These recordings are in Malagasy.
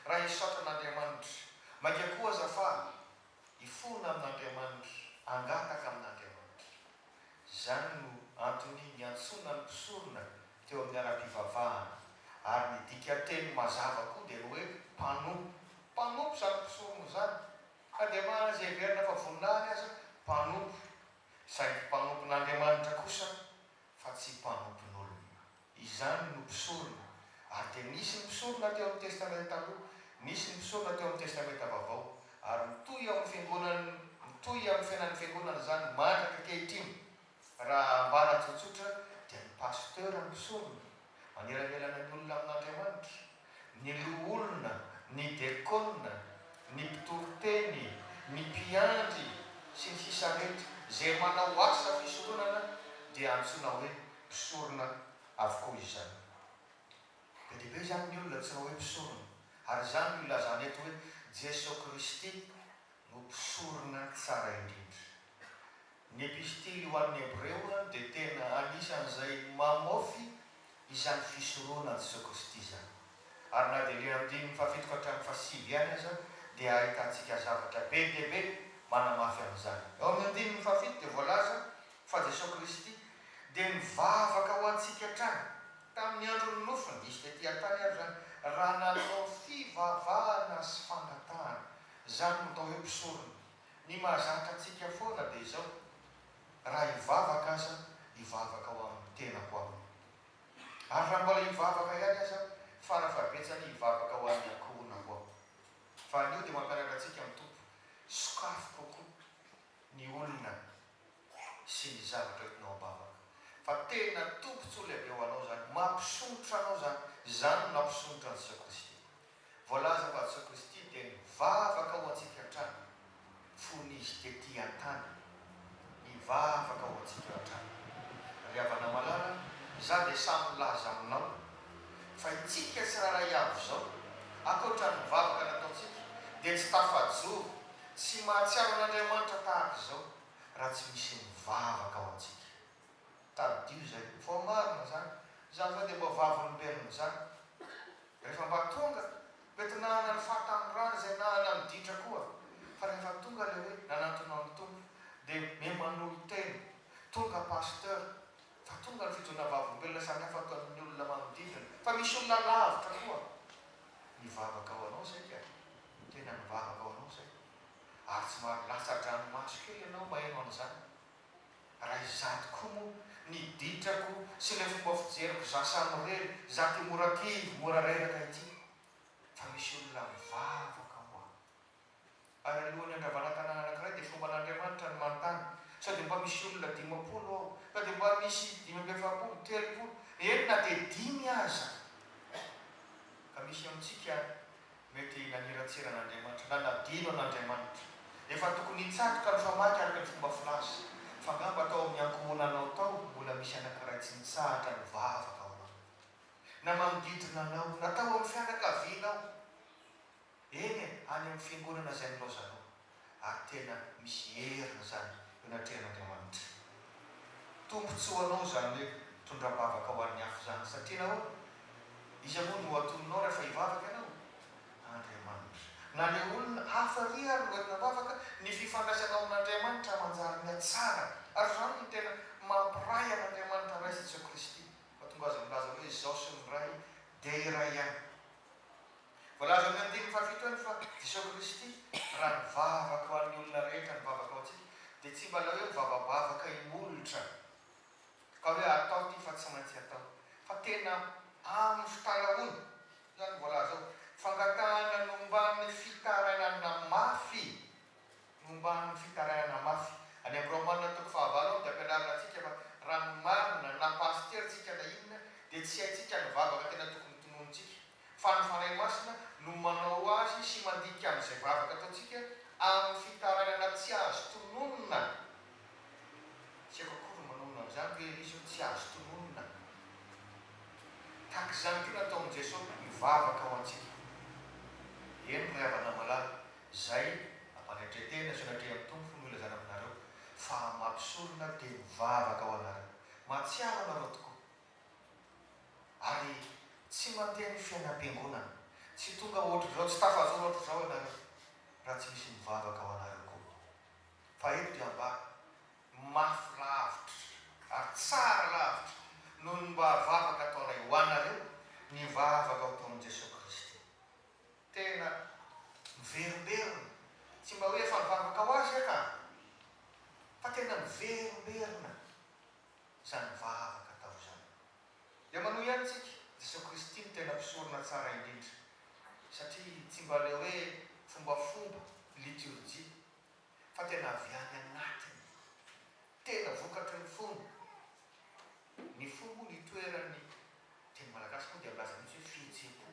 Raha hisaotra an'Andriamanitra, mainka koa aza faly, hifona amin'Andriamanitra, hangataka amin'Andriamanitra. Izany no antony niantsoana ny mpisorona teo amin'ny ara-pivavahana, ary ny dikan-teny mazava koa dia ny hoe mpanompo. Mpanompo izany mpisorona izany, na dia maha azy heverina fa voninahiny aza, mpanompo, saingy mpanompon'Andriamanitra kosa fa tsy mpanompon'olona. Izany no mpisorona. Ary dia nisy ny mpisorona teo amin'ny Testamenta Taloha, nisy ny mpisorona teo amin'ny Testamenta Vaovao. Ary mitohy eo amin'ny Fiangonany, mitohy amin'ny fiainan'ny Fiangonana izany mandraka ankehitriny. Raha ambara tsotsotra, dia ny pasteur no mpisorona, manelanelana ny olona amin'Andriamanitra. ny loholona, ny dekona, ny mpitoriteny, ny mpiandry, sy ny sisa rehetra izay manao asa fisoronana dia antsoina hoe mpisorona avokoa izany. Be dia be izany ny olona antsoina hoe mpisorona ary izany no ilazana eto hoe Jeso Kristy no mpisorona tsara indrindra. Ny Epistily ho an'ny Hebreo dia tena anisan'izay mamofy izany fisoronan'i Jesoa Kristy izany. Ary na dia ilay andininy fahafito ka hatramin'ny fahasivy ihany aza dia ahitantsika zavatra be dia be manamafy an'izany. Eo amin'ny andininy fahafito dia voalaza fa Jesoa Kristy dia nivavaka ho antsika hatrany tamin'ny andron'ny nofony, izy tety an-tany ary izany, raha nanao fivavahana sy fangatahana. Izany no atao hoe mpisorona. Ny mahazatra antsika foana dia izao, raha hivavaka aza aho, hivavaka ho amin'ny tenako aminy. Ary raha mbola hivavaka ihany aza aho, fara fahabetsany hivavaka ho an'ny ankohonako aho. Fa anio dia mampianatra antsika ny Tompo, sokafy kokoa ny olona sy ny zavatra entinao am-bavaka. Fa tena tombontsoa lehibe ho anao izany, mampisondrotra anao izany, izany no nampisondrotra antsika koa isika. Voalaza fa Jesoa Kristy dia nivavaka ho antsika hatrany fony Izy tetỳ an-tany. Nivavaka ho antsika hatrany. Ry havana malala, izaho dia sahy milaza aminao fa itsika tsirairay avy izao, ankoatra ny vavaka nataontsika, dia tsy tafajoro, tsy mahatsiaro an'Andriamanitra tahaka izao, raha tsy misy mivavaka ho antsika. tadidio izay vao marina zany zany zany dia mba vavolombelona zany rehefa mba tonga mety nanana ny fahatanorana izay nanana ny ditra koa fa rehefa tonga ilay hoe nanantona ny Tompo dia miha manolo tena tonga pasteur fa tonga ny fijoana vavolombelona samy hafa toa an'ny olona manodidina fa misy olona lavitra koa nivavaka ho anao saika tena nivavaka ho anao zay ary tsy maro latsa-dranomaso kely ianao maheno an'izany Raha izaho tokoa moa, ny ditrako sy ilay fomba fijeriko za samirery, za ty mora kivy, mora reraka ity, fa misy olona mivavaka ho ahy. Ary alohan'ny handravana tanàna anankiray dia fomban'Andriamanitra ny manontany, sao dia mba misy olona dimampolo ao, ka dia mba misy dimy amby efapolo, telopolo, eny na dia dimy aza. Ka misy amintsika Mety naniratsiran'Andriamanitra, nanadino an'Andriamanitra. Efa tokony hitsatoka ny famaky araka ny fomba filaza. F'angamba tao amin'ny ankohonanao tao, mbola misy anankiray tsy nitsahatra nivavaka ho anao. Na manodidina anao, na tao amin'ny fianakavianao. Eny e, any amin'ny fiangonana izay nilaozanao. ary tena misy heriny izany eo anatrehan'Andriamanitra. Tombotsoa ho anao izany hoe tondram-bavaka ho an'ny hafa izany, satria nahoana? Iza moa no hatoninao rahefa hivavaka ianao? Andriamanitra. Na ny olona hafa àry ary no entina am-bavaka, ny fifandraisanao amin'Andriamanitra manjary mihatsara. Ary izany no tena mampiray an'Andriamanitra Ray sy Jesoa Kristy, fa tonga Azy milaza hoe izaho sy ny Ray dia iray ihany. Voalaza amin'ny andininy fahafito any fa Jesosy Kristy, Raha nivavaka ho an'ny olona rehetra ny vavaka ho antsika, dia tsy mba ilay hoe mivavabavaka imolotra, ka hoe atao ity fa tsy maintsy atao, fa tena amin'ny fitaraoana. Izany no voalaza ao. Fangatahana nomban'ny fitarainana mafy, nomban'ny fitarainana mafy. Any amin'ny Romana toko fahavalo ao dia ampianarina antsika fa raha ny marina, na pasitera tsika na inona, dia tsy haintsika ny vavaka tena tokony tononontsika. fa ny Fanahy Masina no manao azy sy mandika an'izay vavaka ataontsika amin'ny fitarainana tsy azo tononina. Tsy haiko akory ny manonona an'izany, toy ilay izy hoe tsy azo tononina. Tahaka izany koa nataon'i Jesoa mivavaka ho antsika. Eny ry havana malala, izay ampanetren-tena izao ny atrehin'ny Tompo no ilazana aminareo, fa amin'ny maha mpisorona dia mivavaka ho anareo. Mahatsiaro anareo tokoa. Ary tsy mandeha ny fiainam-piangonana. Tsy tonga hoatr'izao, tsy tafajoro hoatr'izao ianareo raha tsy misy mivavaka ho anareo koa. Fa eto dia mba mafy lavitra ary tsara lavitra noho ny mba vavaka ataonay ho anareo ny vavaka ao Taonin'i Jesoa Kristy. Tena miverimberina, tsy mba hoe efa nivavaka ho Azy aho ka, fa tena miverimberina. izany vavaka atao izany. Dia manohy ihany tsika, Jesoa Kristy no tena mpisorona tsara indrindra, satria tsy mba ilay hoe fombafomba, liturgie, fa tena avy any anatiny, tena vokatry ny fo, ny fo moa ny itoeran'ny, teny malagasy moa dia milaza mihitsy hoe fihetsem-po.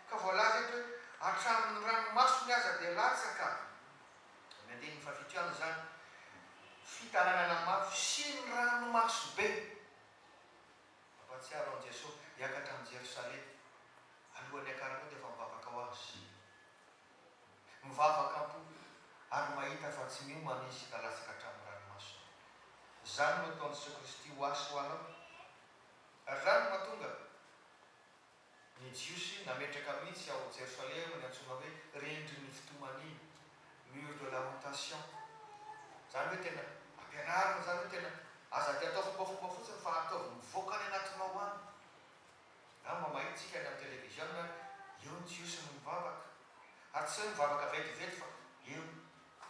Ka voalaza eto hoe hatramin'ny ranomasony aza dia latsaka ny andininy fahafito ihany izany, fitaranana mafy sy ny ranomaso be. Mampahatsiaro an'i Jesoa hiakatra amin'i Jerosalema alohan'ny hiakarako dia efa mivavaka ho azy. Mivavaka am-po ary mahita fa tsy miomana izy ka latsaka hatramin'ny ranomasony. Izany no ataon'i Jesoa Kristy ho ahy sy ho anao ary izany no mahatonga. Ny Jiosy nametraka mihitsy ao Jerosalema ny antsoina hoe Rindrin'ny Fitomaniana, Mur de Lamentation. Izany hoe tena ampianarina izany hoe tena aza dia atao fombafomba fotsiny fa ataovy mivoaka any anatinao any. Na mba mahitsika any amin'ny televiziona ary eo ny Jiosy no mivavaka. Ary tsy hoe mivavaka vetivety fa eo,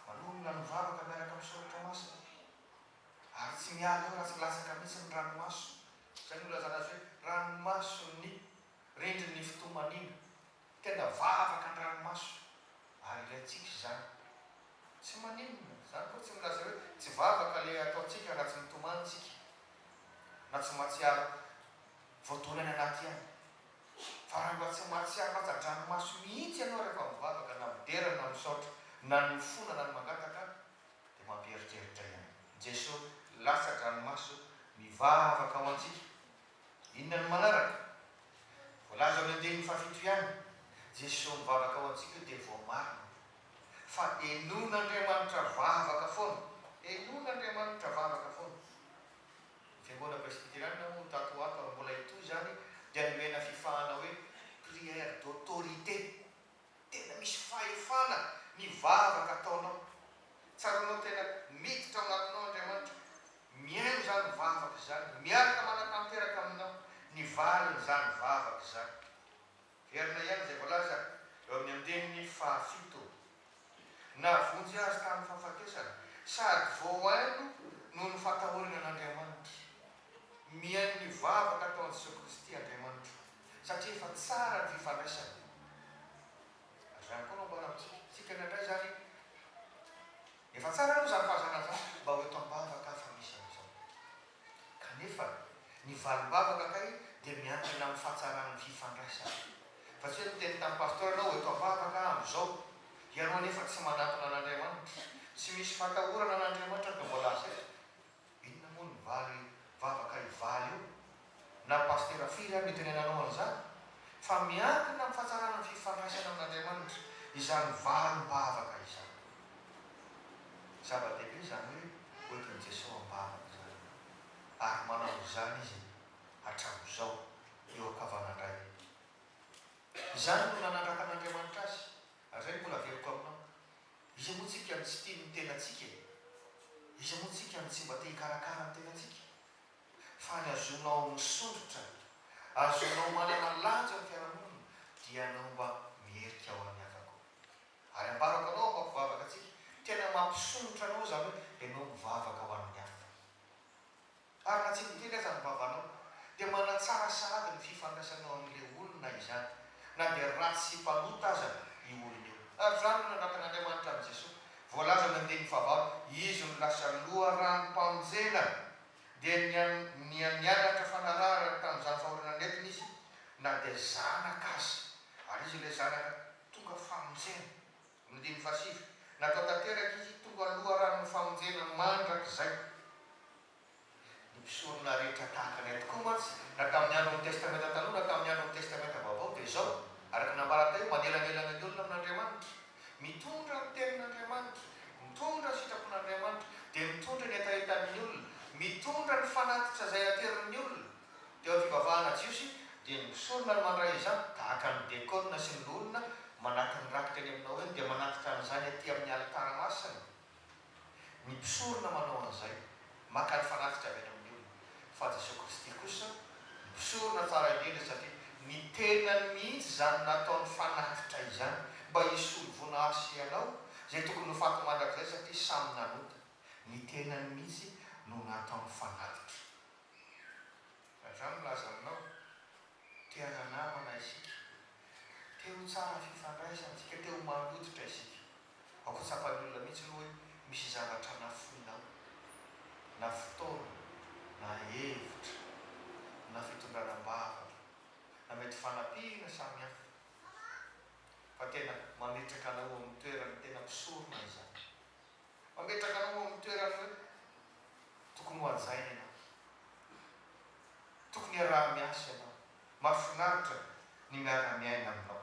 manonona ny vavaka miaraka amin'ny Soratra Masina. Ary tsy miala eo raha tsy latsaka mihitsy ny ranomaso Izay nolazana azy hoe ranomason'ny rindrin'ny fitomaniana. Tenda vavaka ny ranomaso ary ilaintsika izany. Tsy maninona, izany koa tsy milaza hoe tsy vavaka ilay ataontsika raha tsy mitomany isika na tsy mahatsiaro voadona any anaty ihany. Fa raha mba tsy mahatsiaro latsa-dranomaso mihitsy ianao rehefa mivavaka na midera na misaotra na ny mifona na ny mangataka, dia mampieritreritra ihany. Jeso, latsa-dranomaso mivavaka ho antsika. Inona no manaraka? Voalaza amin'ny andininy fahafito ihany. Jeso mivavaka ho antsika dia voamarina fa enon'Andriamanitra vavaka foana. Enon'Andriamanitra vavaka foana. Ny Fiangonana Presbyteriana moa tato ho ato ary mbola hitohy izany dia nomena fifahana hoe prière d'autorité. Tena misy fahefana ny vavaka ataonao. Tsaroanao tena miditra ao anatinao Andriamanitra. Mihaino izany vavaka izany. Miaraka manatanteraka aminao ny valin'izany vavaka izany. Heverina ihany izay voalaza eo amin'ny andininy fahafito. Nahavonjy azy tamin'ny fahafatesana sady voahaino noho ny fatahorana an'Andriamanitra. Mihaino ny vavaka ataon'i Jesoa Kristy Andriamanitra satria efa tsara ny fifandraisana. Ary izany koa no amboary amintsika. Isika indraindray izany efa tsara aloha izany fahazarana izany mba ho eto am-bavaka aho fa misy an'izao. Kanefa ny valim-bavaka kay dia miankina amin'ny fahatsaran'ny fifandraisana. Fa tsy hoe miteny tamin'ny pasteur ianao ho eto am-bavaka aho amin'izao. Ianao anefa tsy manantona an'Andriamanitra. Tsy misy fatahorana an'Andriamanitra no voalaza eto. Inona moa no vary vavaka hivaly eo? Na pasitera firy ary no itenenanao an'izany? Fa miankina amin'ny fahatsarana ny fifandraisana amin'Andriamanitra izany varim-bavaka izany. Zava-dehibe izany hoe hoentin'i Jesoa am-bavany izany, ary manao izany Izy hatramin'izao, eo an-kavanan-drainy. Izany no nanandrakan'Andriamanitra Azy, Hatrizay mbola averiko aminao, iza moa tsika no tsy tia ny tenantsika e? Iza moa tsika no tsy mba te hikarakara ny tenantsika? Fa ny azonao misondrotra, azonao manana lanja ny fiarahamonina dia ianao mba mierika ao amin'ny havako. Ary ambarako anao afa-pivavaka antsika, tena mampisondrotra anao izany hoe ianao mivavaka ho an'ny hafa. ary raha tsy miteny aza ny vavanao, dia manatsara sahady ny fifandraisanao amin'ilay olona izany, na dia ratsy sy mpanota aza io olona io. Ary izany no nandratan'Andriamanitra an'i Jesoa. Voalazan'ny andininy fahavalo, Izy no lasa loharanom-panjena, dia niha nianatra fanarahana tamin'izany fahoriana nentiny Izy, na dia zanaka aza, ary Izy ilay zanaka tonga famonjena. Roa amby dimy fahasivy, Natao tanteraka izy hitondro an'ny loharanon'ny famonjena mandrakizay ny mpisorona rehetra tahaka anay tokoa mantsy na tamin'ny andron'ny Testamenta Taloha na tamin'ny andron'ny Testamenta Vaovao dia izao araka ny nambarany teo manelanelana ny olona amin'Andriamanitra mitondra ny tenin'Andriamanitra mitondra ny sitrapon'Andriamanitra dia mitondra ny hetahetan'ny olona mitondra ny fanatitra izay aterin'ny olona Teo amin'ny fivavahana jiosy, dia ny mpisorona no mandray izany, tahaka ny dekôna sy ny loholona manaty ny rakitra eny amin'ny Noeny dia manatitra an'izany aty amin'ny alitara masina. Ny mpisorona manao an'izay, maka ny fanatitra avy any amin'ny olona. Fa Jesoa Kristy kosa, mpisorona tsara indrindra, satria ny tenany mihitsy izany nataony fanatitra izany, mba hisolo voina Ahy sy ianao, izay tokony ho faty mandrakizay satria samy nanota. Ny tenany mihitsy no nataony fanatitra. Raha za milaza aminao, te-hana namana isika, te-ho tsara fifandraisantsika, te-ho maha lototra isika. Aoka tsapan'ny olona mihitsy aloha hoe misy zavatra nafoinao, na fotoana, na hevitra, na fitondrana am-bavaka, na mety fanampiana samy hafa, fa tena mametraka anao eo amin'ny toerany tena mpisorona izany. Mametraka anao amin'ny toerana hoe tokony hohajaina ianao. Tokony hiaraha-miasa ianao. Mahafinaritra ny miara-miaina aminao.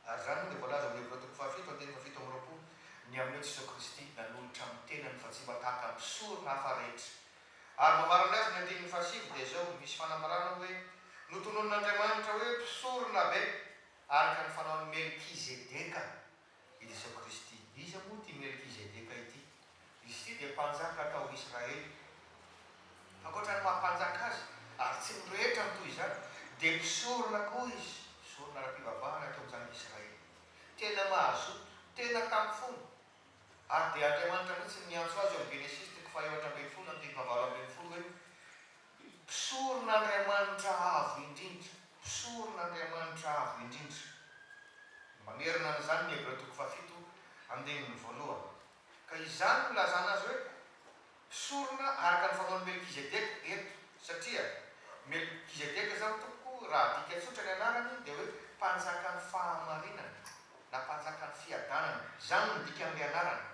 Ary izany moa dia voalaza amin'ny Hebreo toko fahafito andininy fahafito amby roapolo, Ny aminao Jesoa Kristy nanolotra ny tenany fa tsy mba tahaka mpisorona hafa rehetra. Ary mamarana azy ny andininy fahasivy dia izao, misy fanambarana hoe, Notononin'Andriamanitra hoe mpisoronabe araka ny fanaon'i Melkizedeka. i Jesoa Kristy. Iza moa ity Melkizedeka ity? Izy ity dia mpanjaka tao Israely. Ankoatra ny maha mpanjaka azy, ary tsy ny rehetra no toy izany, dia mpisorona koa izy, mpisorona ara-pivavahana teo amin'ny zanak'i Israely. Tena mazoto, tena tamin'ny fony. Ary dia Andriamanitra mihitsy no niantso azy eo amin'ny Genesisy toko fahaefatra ambin'ny folo andininy fahavalo ambin'ny folo hoe. Mpisorona Andriamanitra Avo Indrindra Mpisorona Andriamanitra Avo Indrindra. Mamerina an'izany ny Hebreo toko fahafito andininy voalohany. Ka izany no ilazana azy hoe mpisorona araka ny fanaon'i Melkizedeka eto, satria Melkizedeka izany tompoko raha adika tsotra ny anarany dia hoe mpanjakan'ny fahamarinana na mpanjakan'ny fiadanana, izany no dikan'ilay anarana.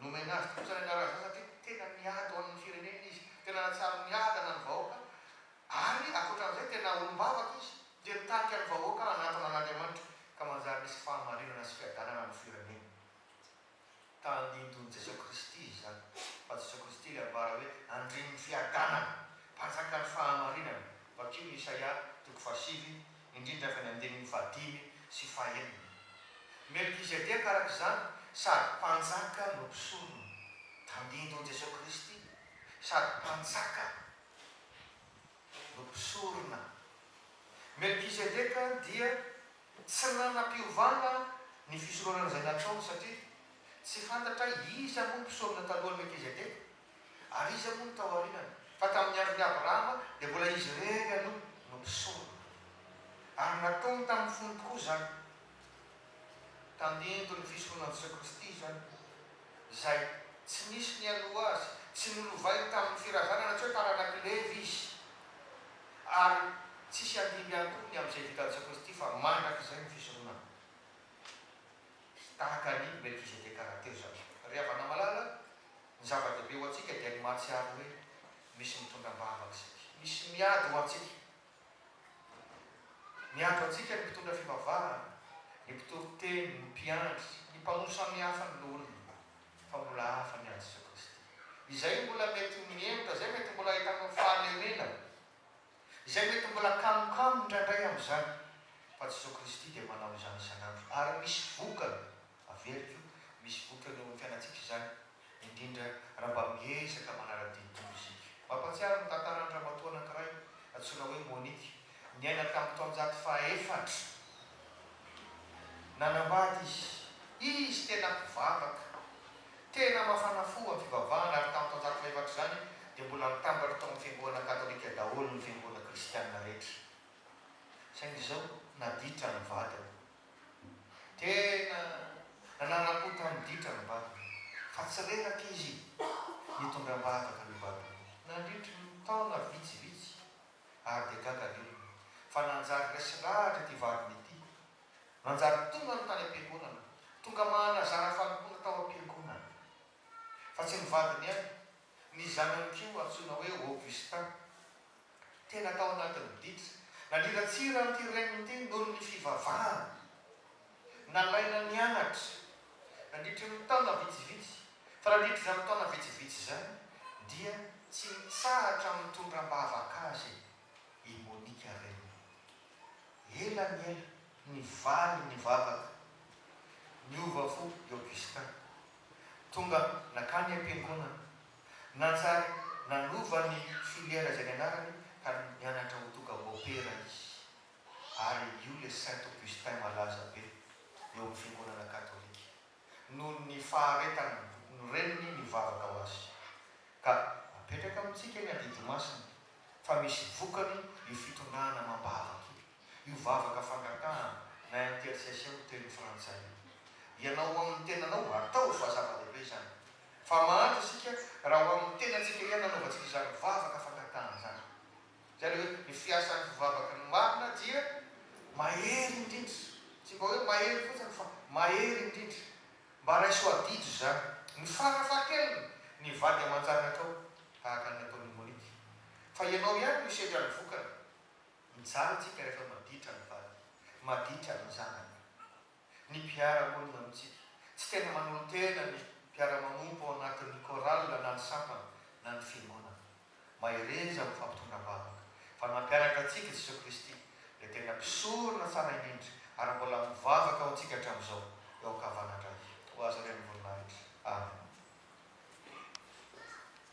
Nomena azy kosa ny anjara asa satria tena miady ho an'ny firenena izy. Tena nahatsiaro ny adana ny vahoaka ary ankoatran'izay tena olom-bavaka izy dia nitarika ny vahoaka hanantona an'Andriamanitra ka manjary nisy fahamarinana sy fiadanana ny firenena. Tandindon'i Jesoa Kristy izany fa Jesoa Kristy ilay ambara hoe Andrian'ny fiadanana, Mpanjakan'ny fahamarinana. Vakio ny Isaia toko fahasivy. indrindra avy any andininy fahadimy sy fahenina. Melkizedeka, araka izany, sady Mpanjaka no mpisorona, tandindon'i Jesoa Kristy, sady Mpanjaka no mpisorona. Melkizedeka dia tsy nanam-piovana ny fisoronana izay natraony, satria tsy fantatra iza moa mpisorona talohan'i Melkizedeka. Ary iza moa no tao aorinany, fa tamin'ny andron'i Abrahama dia mbola izy irery aloha no mpisorona. Ary nataony tamin'ny fony tokoa izany. Tandinto ny fisoronan'i Jesoa Kristy izany, izay tsy nisy nialoha Azy, tsy nolovainy tamin'ny firazanana, tsy hoe taranak'i Levy Izy. Ary tsisy handimby ihany koa ny amin'izay vitan'i Jesoa Kristy, fa mandrakizay ny fisoronana. Tahaka an'i Melkizedeka rahateo izany. Ry havana malala, Ny zava-dehibe ho antsika dia ny mahatsiaro hoe misy mitondra am-bavaka saika misy miady ho antsika. Miady ho antsika ny mpitondra fivavahana, ny mpitory teny, ny mpiandry, ny mpamono samihafa ny loholona, fa mbola hafa ny an'i Jesoa Kristy. Izay mbola mety ho mihemotra, izay mety mbola ahitanao fahalemenana, izay mety mbola kamokamo indraindray amin'izany, fa Jesoa Kristy dia manao izany isan'andro ary misy vokany. Averiko, misy vokany eo amin'ny fiainantsika izany, indrindra raha mba miezaka manara-dia toy isika. Mampahatsiaro ny tantaran'ny ramatoa anankiray antsoina hoe Monique, niaina tamin'ny taonjato fahaefatra. Nanambady izy. Izy tena mpivavaka, tena mafana fo amin'ny fivavahana, ary tamin'ny taonjato fahefatra izany dia mbola nitambatra tao amin'ny fiangonana katolika daholo ny fiangonana kristianina rehetra. Saingy izao, naditra ny vadiny. Tena nanara-pototra ny ditra ny Bado, fa tsy reraka izy nitondra am-bahataka ny Bado nandritry ny taona vitsivitsy ary dia gaga ny olona fa nanjary resy lahatra ity vadiny ity, nanjary tongany tany am-piangonana, tonga manazara fanompoana tao am-piangonana fa tsy ny vadiny ihany Ny zanany koa antsoina hoe Augustin. Tena tao anatin'ny didy naniratsira an'ity reniny ity noho ny fivavahany. Nalaina nianatra nandritry ny taona vitsivitsy, fa nandritry izany taona vitsivitsy izany dia tsy nitsahatra mitondra am-bavaka azy i Monica reniny. Ela ny ela nivaly ny vavaka, niova fo i Augustin. Tonga nankany am-piangonana. Nanjary nanova ny filière izay nianarany ka nianatra ho tonga môpera izy. Ary io ilay Saint Augustin malaza be eo amin'ny fiangonana katolika. Noho ny faharetany ny reniny nivavaka ho azy. Ka apetraka amintsika ny adidy masina fa misy vokany io fitondrana amam-bavaka io. io vavaka fangatahana na intercession ho teny frantsay io. Ianao ho amin'ny tenanao, ataovy fa zava-dehibe izany. Fa mahantra isika raha ho amin'ny tenantsika ihany nanaovantsika izany vavaka fangatahana izany. Izay ilay hoe ny fiasan'ny fivavaka no marina dia mahery indrindra. Tsy mba hoe mahery fotsiny fa mahery indrindra. Mba raiso adidy izany. Ny farafahakeliny, ny vady aman-janakao, tahaka ny nataon'i Monique. Fa ianao ihany no hisedra ny vokany. Mijaly tsika rehefa maditra ny vady, maditra ny zanaka, ny mpiara-monina amintsika. Tsy tena manolo-tena ny mpiara-manompo ao anatin'ny chorale na ny sampana na ny fiangonana. Mahereza amin'ny fampitondra vavaka, fa nampianatra antsika Jesoa Kristy, Ilay tena mpisorona tsara indrindra, ary mbola mivavaka ho antsika hatramin'izao, eo an-kavanandray. Ho Azy Renivoninahitra. Amen.